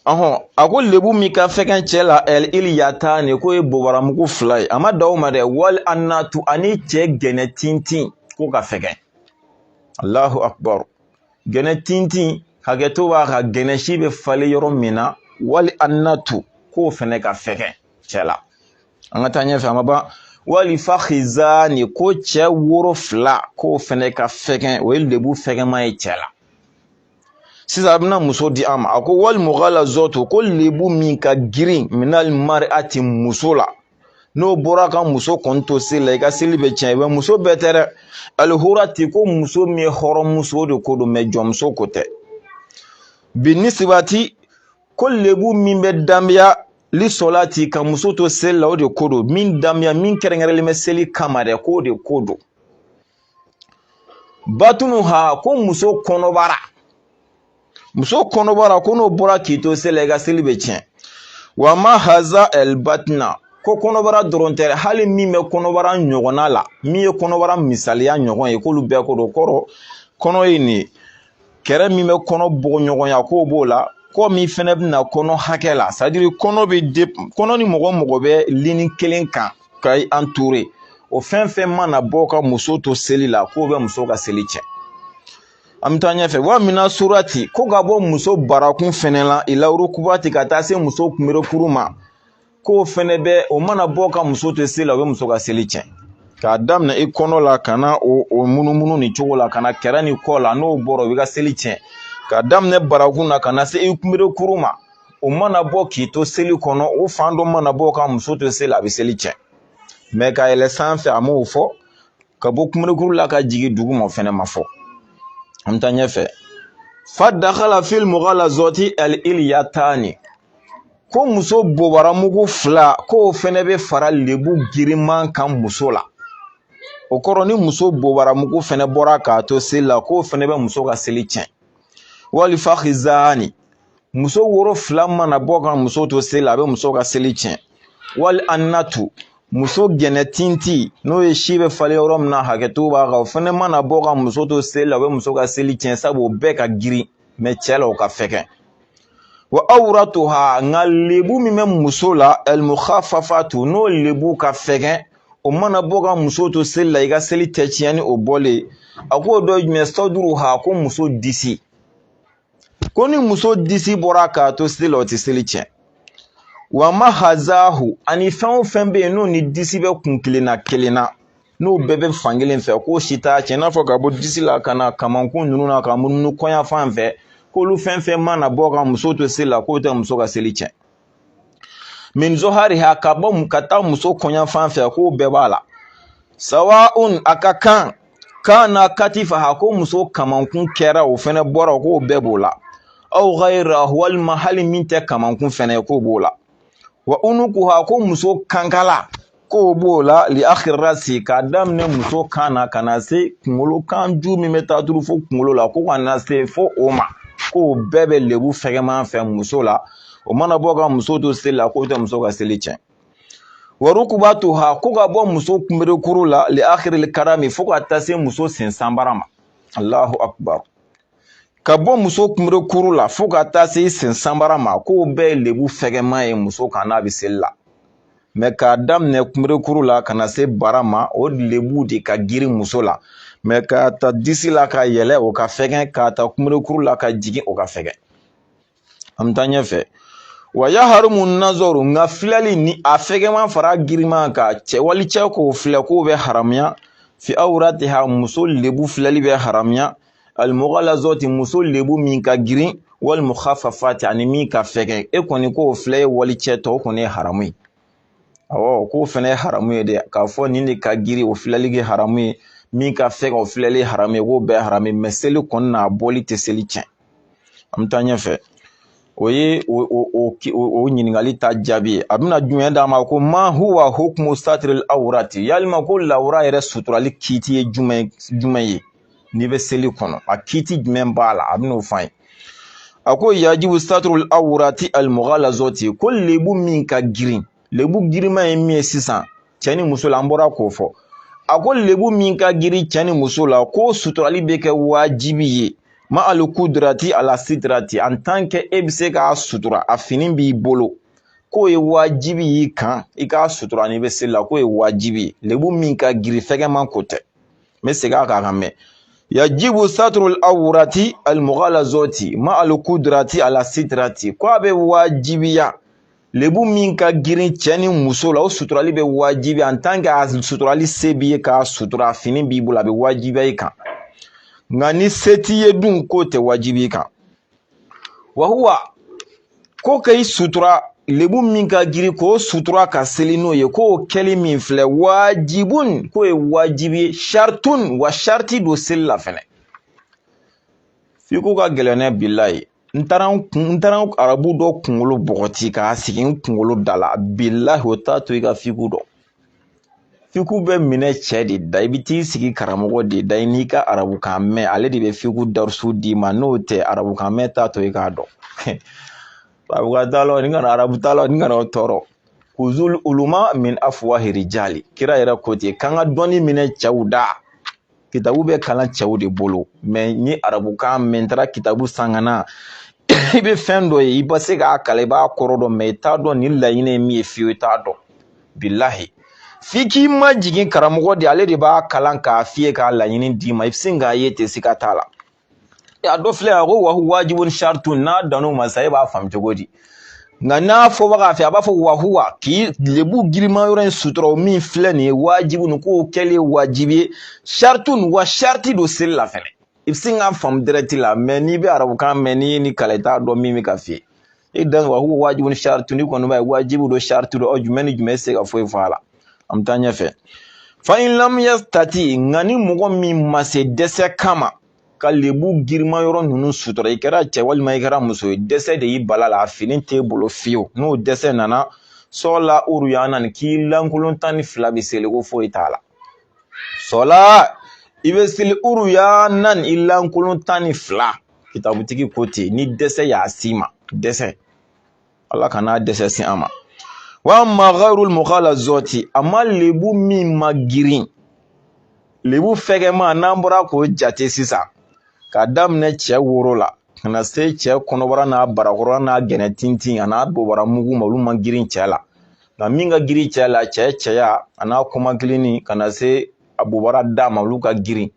ɔhɔn a ko lebu min ka fɛgɛn cɛ la ɛli iliyatani k'o ye bobaramugu fila ye a ma dan o ma dɛ wali anatu ani cɛ gɛnɛ tintin k'o ka fɛgɛn alahu akubaru gɛnɛ tintin hakɛto b'a kan gɛnɛ si bɛ falen yɔrɔ min na wali annatu k'o fɛnɛ ka fɛgɛn cɛ la an ka taa ɲɛfɛ an ma ban wali fakizani ko cɛ woro fila k'o fɛnɛ ka fɛgɛn o ye lebu fɛgɛnma ye cɛ la sisan a bɛna muso di an ma a ko wali mughalazatu ko lebu min ka girin minali mariati muso la n'o bɔra ka muso kɔni to seli la i ka seli bɛ tiɲɛ mɛ muso bɛɛ tɛ dɛ alihurati ko muso min ye hɔrɔnmuso o de ko don mɛ jɔnmuso ko tɛ binisibati ko lebu min bɛ danbeya lisɔlati ka muso to seli la o de ko don min danbeya min kɛrɛnkɛrɛnlen bɛ seli kama dɛ k'o de ko don batunuha ko muso kɔnɔbara muso kɔnɔbara ko n'o bɔra k'i to seli la i ka seli bɛ tiɲɛ wa ma haza ɛlibatina ko kɔnɔbara dɔrɔn tɛ dɛ hali min bɛ kɔnɔbara ɲɔgɔnna la min ye kɔnɔbara misaliya ɲɔgɔn ye k'olu bɛɛ ko don kɔrɔ kɔnɔ ye nin ye kɛrɛ min bɛ kɔnɔ bɔɲɔgɔnya k'o b'o la kɔ min fɛnɛ bɛna kɔnɔ hakɛ la c'est-à-dire kɔnɔ bɛ de kɔnɔ ni mɔgɔ mɔgɔ bɛ lini kelen kan ka entourer o fɛn fɛn mana bɔ ka muso to seli la k'o bɛ muso ka seli tiɲɛ an bɛ taa ɲɛfɛ wa mina surati ko ka bɔ muso barakun fɛnɛ la ilawurukubati ka taa se muso kunberekuru ma k'o fɛnɛ bɛ o mana bɔ ka muso to seli la o bɛ muso ka seli tiɲɛ k'a daminɛ i kɔnɔ la ka na o o munumunu nin cogo la ka na kɛrɛ ni kɔ la n'o bɔra o b'i ka seli tiɲɛ k'a daminɛ barakun na ka na se i kunberekuru ma o mana bɔ k'i to seli kɔnɔ o fan dɔ mana bɔ ka muso to seli a bɛ seli tiɲɛ mɛ ka yɛlɛ sanfɛ a m'o fɔ ka bɔ kunberekuru la ka jigin duguma o fɛnɛ ma fɔ an bɛ taa ɲɛfɛ fa dakala fil mughalazati al iliyatani ko muso bobaramugu fila k'o fɛnɛ bɛ fara lebu girinman kan muso la o kɔrɔ ni muso bobaramugu fɛnɛ bɔra k'a to seli la k'o fɛnɛ bɛ muso ka seli tiɲɛ wali fakizani muso woro fila mana bɔ ka muso to seli la a bɛ muso ka seli tiɲɛ wali annatu muso gɛnɛ tinti n'o ye si bɛ falen yɔrɔ min na hakɛto b'a kan o fɛnɛ mana bɔ ka muso to seli la o bɛ muso ka seli tiɲɛ sabu o bɛɛ ka girin mɛ cɛ la o ka fɛgɛn wa awratuha nka lebu min bɛ muso la almukhafafatu n'o lebu ka fɛgɛn o mana bɔ ka muso to seli la i ka seli tɛ tiɲɛ ni o bɔlen a k'o dɔ ye jumɛn sɔduruha ko muso disi ko ni muso disi bɔra k'a to seli la o tɛ seli tiɲɛ wa mahazahu ani fɛn o fɛn bɛ yen n'o ni disi bɛ kun kelen na kelen na n'o bɛɛ bɛ fankelen fɛ k'o si t'a tiɲɛ i n'a fɔ ka bɔ disi la ka na kamankun ninnu na ka munumunu kɔɲafan fɛ k'olu fɛn fɛn mana bɔ ka muso to seli la k'o tɛ muso ka seli tiɲɛ min zohariha ka bɔ ka taa muso kɔɲafan fɛ k'o bɛɛ b'a la sawaun a ka kan kana katifaha ko muso kamankun kɛra o fɛnɛ bɔra k'o bɛɛ b'o la aw ghayra walima hali min tɛ kamankun fɛnɛ ye k'o b'o la wa unukuha ko muso kankala k'o b'o la li akhiri rasi k'a daminɛ muso kan na ka na se kunkolo kan ju min bɛ taa turu fo kunkolo la ko ka na se fo o ma k'o bɛɛ bɛ lebu fɛgɛman fɛ muso la o mana bɔ ka muso to seli la k'o tɛ muso ka seli tiɲɛ wa rukubatuha ko ka bɔ muso kunberekuru la li akhiril karami fo ka taa se muso sen sanbara ma allahu akbar ka bɔ muso kunberekuru la fo ka taa se sen sanbara ma k'o bɛɛ ye lebu fɛgɛnma ye muso kan n'a bɛ seli la mɛ k'a daminɛ kunberekuru la ka na se bara ma o lebu de ka girin muso la mɛ k'a ta disi la ka yɛlɛ o ka fɛgɛn k'a ta kunberekuru la ka jigin o ka fɛgɛn an bɛ taa ɲɛfɛ wa yaharumu nazɔru nka filɛli ni a fɛgɛman fara girinma kan cɛ wali cɛ k'o filɛ k'o bɛ haramuya fi awratiha muso lebu filɛli bɛ haramuya almughalazoti muso lebu min ka girin wal mukhaffafati ani min ka fɛgɛn e kɔni k'o filɛ ye wali cɛ tɔ o kɔni ye haramu ye awɔ k'o fɛnɛ ye haramu ye dɛ k'a fɔ nin de ka girin o filɛli kɛ haramu ye min ka fɛgɛn o filɛli haramu ye k'o bɛɛ haramu ye mɛ seli kɔni na a bɔli tɛ seli tiɲɛ an bɛ taa ɲɛfɛ o ye o ɲininkali ta jaabi ye a bɛna jumɛn d'a ma ko ma huwa hukumu satiril awurati yalima ko lawura yɛrɛ suturali kiiti ye jumɛn jumɛn ye n'i bɛ seli kɔnɔ a kiiti jumɛn b'a la a bɛn'o fɔ an ye a ko yajibu saturul awurati almughalazoti ko lebu min ka girin lebu girinma ye min ye sisan cɛ ni muso la an bɔra k'o fɔ a ko lebu min ka girin cɛ ni muso la ko suturali bɛ kɛ wajibi ye ma ali kudrati ala sitirati en tant que e bɛ se k'a sutura a fini b'i bolo k'o ye wajibi y'i kan i k'a sutura n'i bɛ seli la k'o ye wajibi ye lebu min ka girin fɛgɛman ko tɛ n bɛ segin a kan k'a mɛn yajibu saturul awurati almughalazoti ma alukudrati ala sitirati ko a bɛ wajibiya lebu min ka girin cɛ ni muso la o suturali bɛ wajibiya en tant que a suturali se b'i ye k'a sutura fini b'i bolo a bɛ wajibiya i kan nka ni se t'i ye dun k'o tɛ wajibi i kan wahuwa ko ka i sutura lebu min ka girin k'o sutura ka seli n'o ye k'o kɛli min filɛ wajibun k'o ye wajibi ye saritun wa sariti don seli la fɛnɛ fiku ka gɛlɛn ne bilahi n taara arabu dɔ kunkolo bɔgɔti k'a sigi n kunkolo da la bilahi o t'a to i ka fiku dɔn fiku bɛ minɛ cɛ de da i bɛ t'i sigi karamɔgɔ de da i n'i ka arabukan mɛn ale de bɛ fiku darusu d'i ma n'o tɛ arabukan mɛn t'a to i k'a dɔn arabukan t'a la ni kana arabu t'a la ni kana o tɔɔrɔ kuzul uluma min afuwahi rijali kira yɛrɛ ko ten k'an ka dɔnni minɛ cɛw da kitabu bɛ kalan cɛw de bolo mɛ n ye arabukan mɛn n taara kitabu san ka na i bɛ fɛn dɔ ye i bɛ se k'a kalan i b'a kɔrɔ dɔn mɛ i t'a dɔn nin laɲini ye min ye fiyewu i t'a dɔn bilahi f'i k'i majigin karamɔgɔ de ale de b'a kalan k'a f'i ye k'a laɲini d'i ma i bɛ sin k'a ye ten siga t'a la a dɔ filɛ a ko wahuwa wajibun shartun n'a dan'o ma sa e b'a faamu cogo di nka n'a fɔbaga fɛ a b'a fɔ wahuwa k'i lebu girinma yɔrɔ in sutura min filɛ nin ye wajibun k'o kɛli ye wajibi ye shartun wa sharti don seli la fɛnɛ i bɛ sin k'a faamu direct la mɛ n'i bɛ arabukan mɛn n'i ye nin kalan i t'a dɔn min bɛ ka f'i ye e dan wa huwa wajibun shartun i kɔni b'a ye wajibu don shartu don ɔ jumɛn ni jumɛn se ka foyi fɔ a la an bɛ taa ɲɛfɛ fa in lam yastati nka ni mɔgɔ min ma se dɛsɛ kama ka lebu girinma yɔrɔ ninnu sutura i kɛra cɛ walima i kɛra muso ye dɛsɛ de y'i bal'a la a fini t'e bolo fiyewu n'o dɛsɛ nana sɔla uruyanan k'i lankolon tan ni fila bɛ seli ko foyi t'a la sɔla i bɛ seli uruyanan i lankolon tan ni fila kitabutigi ko ten ni dɛsɛ y'a s'i ma dɛsɛ ala kana dɛsɛ se an ma wa amma ghayrul mughalazati amma lebu min ma girin lebu fɛgɛma n'an bɔra k'o jate sisan k'a daminɛ cɛ woro la ka na se cɛ kɔnɔbara n'a barakɔrɔla n'a gɛnɛ tintin an'a bobara mugu ma olu ma girin cɛ la nka min ka girin cɛ la cɛ cɛya an'a kɔmakilini ka na se a bobara da ma olu ka girin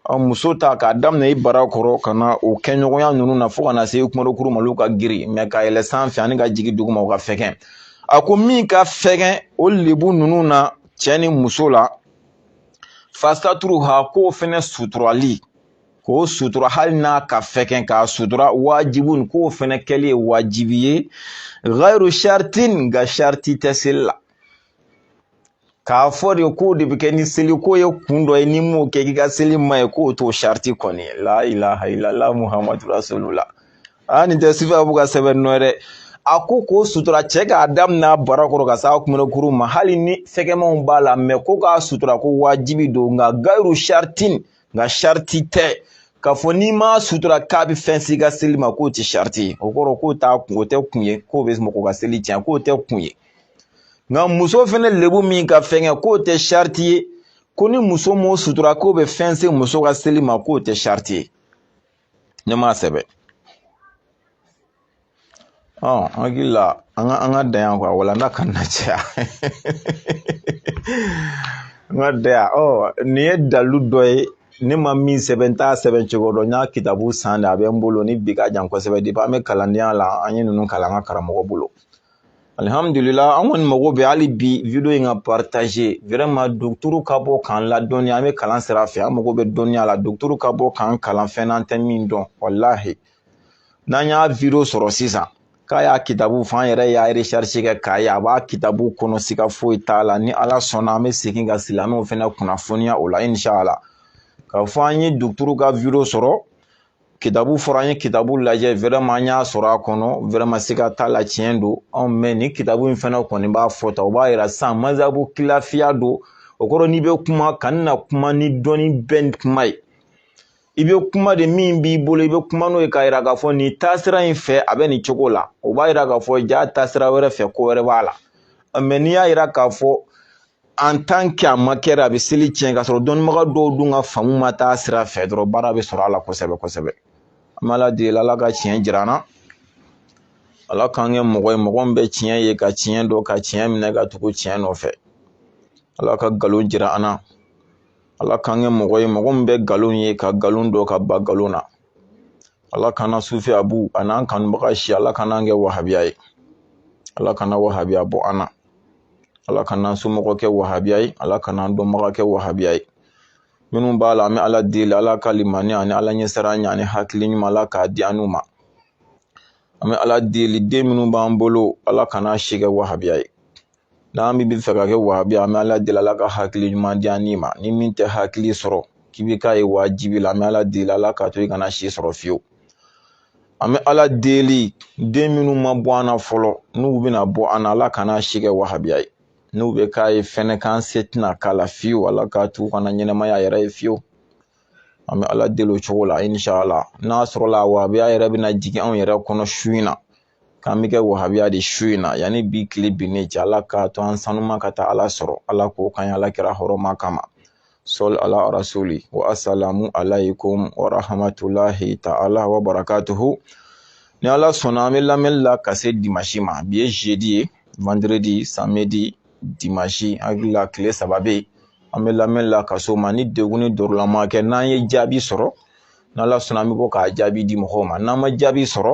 Ɔ muso ta k'a daminɛ i barakɔrɔ ka na o kɛɲɔgɔnya ninnu na fo ka na se i kumarokuru ma olu ka girin mɛ ka yɛlɛ sanfɛ ani ka jigin duguma u ka fɛgɛn a ko min ka fɛgɛn o lebu ninnu na cɛ ni muso la fasaturuha k'o fɛnɛ suturali k'o sutura hali n'a ka fɛgɛn k'a sutura wajibun k'o fɛnɛ kɛli ye wajibi ye ghayru shartin nka sharti tɛ seli la k'a fɔ de k'o de bɛ kɛ ni seliko ye kun dɔ ye n'i m'o kɛ k'i ka seli ma ɲɛ k'o t'o sariti kɔni ye la ilaha ilala muhamadu rasulula aa nin tɛ sifa b'u ka sɛbɛn nɔ ye dɛ a ko k'o sutura cɛ k'a daminɛ barakɔrɔ ka s'a kunbɛkuru ma hali ni fɛgɛmanw b'a la mɛ ko k'a sutura ko wajibi don nka ghayru shartin nka sariti tɛ k'a fɔ n'i m'a sutura k'a bɛ fɛn s'i ka seli ma k'o tɛ sariti ye o kɔrɔ k'o t'a kun o tɛ kun ye k'o bɛ mɔgɔ ka seli tiɲɛ k'o tɛ kun ye nka muso fɛnɛ lebu min ka fɛngɛ k'o tɛ sariti ye ko ni muso m'o sutura k'o bɛ fɛn se muso ka seli ma k'o tɛ sariti ye ne m'a sɛbɛn ɔ n hakili la an ka an ka dan yan quoi walanda kana caya n ka dan yan ɔ nin ye dalilu dɔ ye ne ma min sɛbɛn n t'a sɛbɛn cogo dɔn n y'a kitabu san de a bɛ n bolo ni bi ka jan kosɛbɛ depuis an bɛ kalandenya la an ye ninnu kalan an ka karamɔgɔ bolo alihamdulila an kɔni mago bɛ hali bi video in ka partager vraiment dɔgɔtɔrɔ ka bɔ k'an ladɔnniya an bɛ kalan sira fɛ an mago bɛ dɔnniya la dɔgɔtɔrɔ ka bɔ k'an kalan fɛn na an tɛ min dɔn walahi n'an y'a video sɔrɔ sisan k'a y'a kitabu fɔ an yɛrɛ y'a recherche kɛ k'a ye a b'a kitabu kɔnɔ siga foyi t'a la ni ala sɔnna an bɛ segin ka silamɛw fana kunnafoniya o la inshallah k'a fɔ an ye dɔgɔtɔrɔ ka video sɔrɔ kitabu fɔra an ye kitabu lajɛ vraiment an y'a sɔrɔ a kɔnɔ vraiment siga t'a la tiɲɛ don mais ni kitabu in fana kɔni b'a fɔ tan o b'a yira sisan mazhabu kilafiya don o kɔrɔ n'i bɛ kuma kana kuma ni dɔnni bɛɛ kuma ye i bɛ kuma de min b'i bolo i bɛ kuma n'o ye k'a yira k'a fɔ nin taasira in fɛ a bɛ nin cogo la o b'a yira k'a fɔ ja taasira wɛrɛ fɛ ko wɛrɛ b'a la mais n'i y'a yira k'a fɔ en tant que a ma kɛra a bɛ seli tiɲɛ ka sɔrɔ dɔnnibaga dɔw dun ka faamu ma taa sira fɛ dɔrɔn baara bɛ sɔrɔ a la kosɛbɛ kosɛbɛ an b'ala deli ala ka tiɲɛ jira an na ala k'an kɛ mɔgɔ ye mɔgɔ min bɛ tiɲɛ ye ka tiɲɛ dɔn ka tiɲɛ minɛ ka tugu tiɲɛ nɔfɛ ala ka nkalon jira an na ala k'an kɛ mɔgɔ ye mɔgɔ min bɛ nkalon ye ka nkalon dɔn ka ban nkalon na ala kana sufi abu an'an kanubaga si ala kana kɛ wahabiya ye ala kana wahabiya bɔ an na ala kana an somɔgɔ kɛ wahabiya ye ala kana an dɔnbaga kɛ wahabiya ye minnu b'a la an bɛ ala deli ala ka limaniya ani ala ɲɛsiranya ani hakili ɲuman ala k'a di an n'u ma an bɛ ala deli den minnu b'an bolo ala kana si kɛ wahabiya ye n'an bɛ fɛ ka kɛ wahabiya an bɛ ala deli ala ka hakili ɲuman di an ma ni min tɛ hakili sɔrɔ k'i bɛ k'a ye wajibi la an bɛ ala deli ala k'a to i kana si sɔrɔ fiyewu an bɛ ala deli den minnu ma bɔ an na fɔlɔ n'u bɛna bɔ an na ala kana si kɛ wahabiya ye n'u bɛ k'a ye fɛnɛ k'an se tɛna k'a la fiyewu ala k'a t'u kana ɲɛnamaya yɛrɛ ye fiyewu an bɛ ala deli o cogo la inshallah n'a sɔrɔla wahabiya yɛrɛ bɛna jigin anw yɛrɛ kɔnɔ su in na k'an bɛ kɛ wahabiya de su in na yanni bi tile binnen cɛ ala k'a to an sanuma ka taa ala sɔrɔ ala k'o kɛ ala kira hɔrɔma kama sɔli ala rasuli wa asalamu alaykum wa rahmatulahi ta'ala wa barakatuhu ni ala sɔnna an bɛ lamɛnni la ka se dimansi ma bi ye jeudi ye vendredi samedi dimansi an hakili la tile saba bɛ yen an bɛ lamɛnni la ka se o ma ni degun ni dɔrɔlama kɛ n'an ye jaabi sɔrɔ n'ala sɔnna an bɛ bɔ k'a jaabi di mɔgɔw ma n'an ma jaabi sɔrɔ